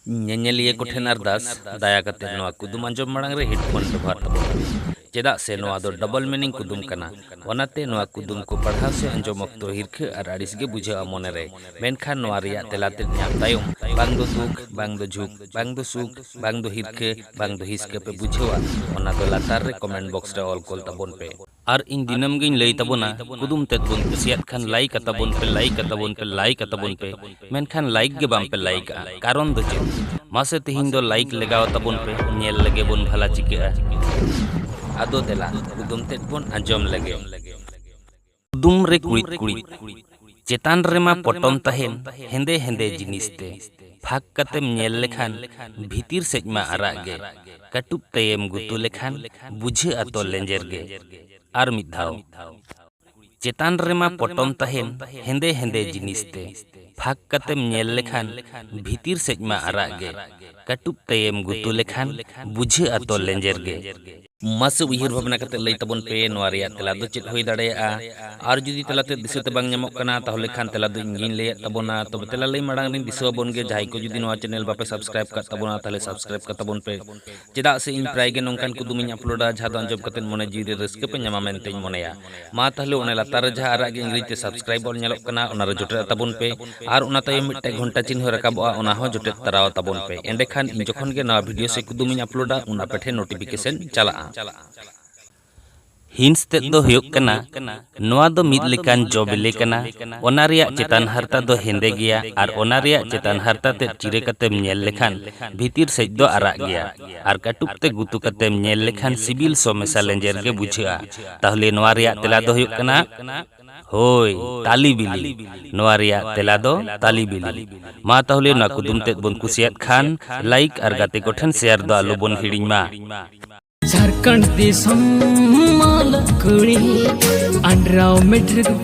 ᱧᱮᱧᱮᱞᱤᱭᱟᱹ ᱠᱚᱴᱷᱮᱱ ᱟᱨᱫᱟᱥ ᱫᱟᱭᱟ ᱠᱟᱛᱮ ᱱᱚᱣᱟ ᱠᱩᱫᱩᱢ ᱟᱸᱡᱚᱢ ᱢᱟᱲᱟᱝ ᱨᱮ ᱦᱮᱰᱯᱷᱳᱱ ᱵᱮᱵᱚᱦᱟᱨ ᱛᱟᱵᱚᱱ ᱯᱮ ᱪᱮᱫᱟᱜ ᱥᱮ ᱱᱚᱣᱟ ᱫᱚ ᱰᱚᱵᱚᱞ ᱢᱤᱱᱤᱝ ᱠᱩᱫᱩᱢ ᱠᱟᱱᱟ ᱚᱱᱟᱛᱮ ᱱᱚᱣᱟ ᱠᱩᱫᱩᱢ ᱠᱚ ᱯᱟᱲᱦᱟᱣ ᱥᱮ ᱟᱸᱡᱚᱢ ᱚᱠᱛᱚ ᱦᱤᱨᱠᱷᱟᱹ ᱟᱨ ᱟᱹᱲᱤᱥ ᱜᱮ ᱵᱩᱡᱷᱟᱹᱜᱼᱟ ᱢᱚᱱᱮ ᱨᱮ ᱢᱮᱱᱠᱷᱟᱱ ᱱᱚᱣᱟ ᱨᱮᱭᱟᱜ ᱛᱮᱞᱟ ᱛᱮᱫ ᱧᱟᱢ ᱛᱟᱭᱚᱢ ᱵᱟᱝ ᱫᱚ ᱫᱩᱠ ᱵᱟᱝ ᱫᱚ ᱡᱷᱩᱠ ᱵᱟᱝ ᱫᱚ ᱥᱩᱠ ᱵᱟᱝ ᱫᱚ ᱦᱤᱨᱠᱷᱟᱹ ᱵᱟᱝ ᱫᱚ ᱦᱤᱥᱠᱟᱹ ᱯᱮ ᱵᱩᱡᱷᱟᱹᱣᱟ ᱚᱱᱟ ᱫᱚ ᱞᱟᱛᱟᱨ ᱨᱮ ᱠᱚᱢᱮᱱᱴ ᱵᱚᱠᱥ ᱨᱮ ᱚᱞ ᱠᱚᱞ ᱛᱟᱵᱚᱱ ᱯᱮ ᱟᱨ ᱤᱧ ᱫᱤᱱᱟᱹᱢ ᱜᱤᱧ ᱞᱟᱹᱭ ᱛᱟᱵᱚᱱᱟ ᱠᱩᱫᱩᱢ ᱛᱮᱫ ᱵᱚᱱ ᱠᱩᱥᱤᱭᱟᱫ ᱠᱷᱟᱱ ᱞᱟᱭᱤᱠ ᱟᱛᱟᱵᱚᱱ ᱯᱮ ᱞᱟᱭᱤᱠ ᱟᱛᱟᱵᱚᱱ ᱯᱮ ᱞᱟᱭᱤᱠ ᱟᱛᱟᱵᱚᱱ ᱯᱮ ᱢᱮᱱᱠᱷᱟᱱ ᱞᱟᱭᱤᱠ ᱜᱮ ᱵᱟᱝ ᱯᱮ ᱞᱟᱭᱤᱠ ᱟ ᱠᱟᱨᱚᱱ ᱫᱚ ᱪᱮᱫ ᱢᱟᱥᱮ ᱛᱮᱦᱮᱧ ᱫᱚ ᱞᱟᱭᱤᱠ ᱞᱮᱜᱟᱣ ᱟᱛᱟᱵᱚᱱ ᱯᱮ ᱧᱮᱞ ᱞᱮᱜᱮ ᱵᱚᱱ ᱵᱷᱟᱞᱟ ᱪᱤᱠᱟᱹᱜᱼᱟ ᱟᱫᱚ ᱫᱮᱞᱟ ᱠᱩᱫᱩᱢ ᱛᱮᱫ ᱵᱚᱱ ᱟᱸᱡᱚᱢ ᱞᱮᱜᱮ ᱠᱩᱫᱩᱢ ᱨᱮ ᱠᱩᱬᱤᱫ ᱠᱩᱬᱤᱫ ᱪᱮᱛᱟᱱ ᱨᱮᱢᱟ ᱯᱚᱴᱚᱢ ᱛᱟᱦᱮᱸᱱ ᱦᱮᱸᱫᱮ ᱦᱮᱸᱫᱮ ᱡᱤᱱᱤᱥ ᱛᱮ᱾ ᱯᱷᱟᱸᱠ ᱠᱟᱛᱮᱢ ᱧᱮᱞ ᱞᱮᱠᱷᱟᱱ ᱵᱷᱤᱛᱤᱨ ᱥᱮᱡ ᱢᱟ ᱟᱨᱟᱜ ᱜᱮ᱾ ᱠᱟᱹᱴᱩᱵ ᱛᱮᱭᱮᱢ ᱜᱩᱛᱩ ᱞᱮᱠᱷᱟᱱ ᱵᱩᱡᱷᱟᱹᱜᱼᱟ ᱛᱚ ᱞᱮᱸᱡᱮᱨ ᱜᱮ᱾ ᱟᱨ ᱢᱤᱫ ᱫᱷᱟᱣ᱾ ᱪᱮᱛᱟᱱ ᱨᱮᱢᱟ ᱯᱚᱴᱚᱢ ᱛᱟᱦᱮᱸᱱ ᱦᱮᱸᱫᱮ ᱦᱮᱸᱫᱮ ᱡᱤᱱᱤᱥ ᱛᱮ᱾ ᱯᱷᱟᱸᱠ ᱠᱟᱛᱮᱢ ᱧᱮᱞ ᱞᱮᱠᱷᱟᱱ ᱵᱷᱤᱛᱤᱨ ᱥᱮᱡ ᱢᱟ ᱟᱨᱟᱜ ᱜᱮ᱾ ᱠᱟᱹᱴᱩᱵ ᱛᱮᱭᱮᱢ ᱜᱩᱛᱩ ᱞᱮᱠᱷᱟᱱ ᱵᱩᱡᱷᱟᱹᱜᱼᱟ ᱛᱚ ᱞᱮᱸᱡᱮᱨ ᱜᱮ᱾ ᱢᱟᱥᱮ ᱩᱭᱦᱟᱹᱨ ᱵᱷᱟᱵᱽᱱᱟ ᱠᱟᱛᱮ ᱞᱟᱹᱭ ᱛᱟᱵᱚᱱ ᱯᱮ ᱱᱚᱣᱟ ᱨᱮᱭᱟᱜ ᱛᱮᱞᱟ ᱫᱚ ᱪᱮᱫ ᱦᱩᱭ ᱫᱟᱲᱮᱭᱟᱜᱼᱟ? ᱟᱨ ᱡᱩᱫᱤ ᱛᱮᱞᱟ ᱛᱮᱫ ᱫᱤᱥᱟᱹ ᱛᱮ ᱵᱟᱝ ᱧᱟᱢᱚᱜ ᱠᱟᱱᱟ ᱛᱟᱦᱚᱞᱮ ᱠᱷᱟᱱ ᱛᱮᱞᱟ ᱫᱚ ᱤᱧ ᱜᱮᱧ ᱞᱟᱹᱭᱟᱫ ᱛᱟᱵᱚᱱᱟ᱾ ᱛᱚᱵᱮ ᱛᱮᱞᱟ ᱞᱟᱹᱭ ᱢᱟᱲᱟᱝ ᱨᱮᱧ ᱫᱤᱥᱟᱹ ᱟᱵᱚᱱ ᱜᱮ ᱡᱟᱦᱟᱸᱭ ᱠᱚ ᱡᱩᱫᱤ ᱱᱚᱣᱟ ᱪᱮᱱᱮᱞ ᱵᱟᱯᱮ ᱥᱟᱵᱽᱥᱠᱨᱟᱭᱤᱵᱽ ᱠᱟᱫ ᱛᱟᱵᱚᱱᱟ ᱛᱟᱦᱚᱞᱮ ᱥᱟᱵᱽᱥᱠᱨᱟᱭᱤᱵᱽ ᱠᱟᱛᱟᱵᱚᱱ ᱯᱮ᱾ ᱪᱮᱫᱟᱜ ᱥᱮ ᱤᱧ ᱯᱨᱟᱭ ᱜᱮ ᱱᱚᱝᱠᱟᱱ ᱠᱩᱫᱩᱢᱤᱧ ᱟᱯᱞᱳᱰᱟ ᱡᱟᱦᱟᱸ ᱫᱚ ᱟᱸᱡᱚᱢ ᱠᱟᱛᱮ ᱢᱚᱱᱮ ᱡᱤᱣᱤ ᱨᱮ ᱨᱟᱹᱥᱠᱟᱹ ᱯᱮ ᱧᱟᱢᱟ ᱢᱮᱱᱛᱮᱧ ᱢᱚᱱᱮᱭᱟ᱾ ᱢᱟ ᱛᱟᱦᱞᱮ ᱚᱱᱟ ᱞᱟᱛᱟᱨ ᱨᱮ ᱡᱟᱦᱟᱸ ᱟᱨᱟᱜ ᱜᱮ ᱤᱝᱨᱮᱡᱤ ᱛᱮ ᱥᱟᱵᱥᱠᱨᱟᱭᱤᱵ ᱚᱞ ᱧᱮᱞᱚᱜ ᱠᱟᱱᱟ ᱚᱱᱟ ᱨᱮ ᱡᱚᱴᱮᱫ ᱛᱟᱵᱚᱱ ᱯᱮ ᱟᱨ ᱚᱱᱟ ᱛᱟᱭᱚᱢ ᱢᱤᱫᱴᱟᱝ ᱜᱷᱚᱱᱴᱟ ᱪᱤᱱᱦᱟᱹ ᱨᱟᱠᱟᱵᱚᱜᱼᱟ ᱚᱱᱟ ᱦᱚᱸ ᱡᱚᱴᱮᱫ ᱛᱟᱨᱟᱣ ᱛᱟᱵᱚᱱ ᱯᱮ ᱮᱸᱰᱮᱠᱷᱟᱱ ᱤᱧ ᱡᱚᱠᱷᱚᱱ ᱜᱮ ᱱᱟᱣᱟ ᱵᱷᱤᱰᱤᱭᱳ ᱥᱮ ᱠᱩᱫᱩᱢ ᱤᱧ ᱟᱯᱞᱳᱰᱟ ᱩᱱ ᱟᱯᱮ ᱴᱷᱮᱱ ᱱᱳᱴᱤᱯᱷᱤᱠᱮᱥᱚᱱ ᱪᱟᱞᱟᱜᱼᱟ᱾ ᱦᱤᱸᱥ ᱛᱮᱫ ᱫᱚ ᱦᱩᱭᱩᱜ ᱠᱟᱱᱟ ᱱᱚᱣᱟ ᱫᱚ ᱢᱤᱫ ᱞᱮᱠᱟᱱ ᱡᱚ ᱵᱤᱞᱤ ᱠᱟᱱᱟ ᱚᱱᱟ ᱨᱮᱭᱟᱜ ᱪᱮᱛᱟᱱ ᱦᱟᱨᱛᱟ ᱫᱚ ᱦᱮᱸᱫᱮ ᱜᱮᱭᱟ ᱟᱨ ᱚᱱᱟ ᱨᱮᱭᱟᱜ ᱪᱮᱛᱟᱱ ᱦᱟᱨᱛᱟ ᱛᱮᱫ ᱪᱤᱨᱟᱹ ᱠᱟᱛᱮᱢ ᱧᱮᱞ ᱞᱮᱠᱷᱟᱱ ᱵᱷᱤᱛᱤᱨ ᱥᱮᱡ ᱫᱚ ᱟᱨᱟᱜ ᱜᱮᱭᱟ᱾ ᱟᱨ ᱠᱟᱹᱴᱩᱵ ᱛᱮ ᱜᱩᱛᱩ ᱠᱟᱛᱮᱢ ᱧᱮᱞ ᱞᱮᱠᱷᱟᱱ ᱥᱤᱵᱤᱞ ᱥᱚ ᱢᱮᱥᱟ ᱞᱮᱸᱡᱮᱨ ᱜᱮ ᱵᱩᱡᱷᱟᱹᱜᱼᱟ᱾ ᱛᱟᱦᱞᱮ ᱱᱚᱣᱟ ᱨᱮᱭᱟᱜ ᱛᱮᱞᱟ ᱫᱚ ᱦᱩᱭᱩᱜ ᱠᱟᱱᱟ ᱦᱳᱭ ᱛᱟᱞᱤ ᱵᱤᱞᱤ᱾ ᱱᱚᱣᱟ ᱨᱮᱭᱟᱜ ᱛᱮᱞᱟ ᱫᱚ ᱛᱟᱞᱤ ᱵᱤᱞᱤ᱾ ᱢᱟ ᱛᱟᱦᱞᱮ ᱱᱚᱣᱟ ᱠᱩᱫᱩᱢ ᱛᱮᱫ ᱵᱚᱱ ᱠᱩᱥᱤᱭᱟᱫ ᱠᱷᱟᱱ ᱞᱟᱭᱤᱠ ᱟᱨ ᱜᱟᱛᱮ ᱠᱚ ᱴᱷᱮᱱ ᱥᱮᱭᱟᱨ ᱫᱚ ᱟᱞᱚ ᱵᱚᱱ ᱦᱤᱲᱤᱧ ᱢᱟ᱾ ᱡᱷᱟᱨᱠᱷᱚᱸᱰ ᱫᱤᱥᱚᱢ ᱢᱟᱞᱚᱛ ᱠᱩᱲᱤ ᱟᱱᱰᱨᱟᱣ ᱢᱮᱴᱨᱤᱠ᱾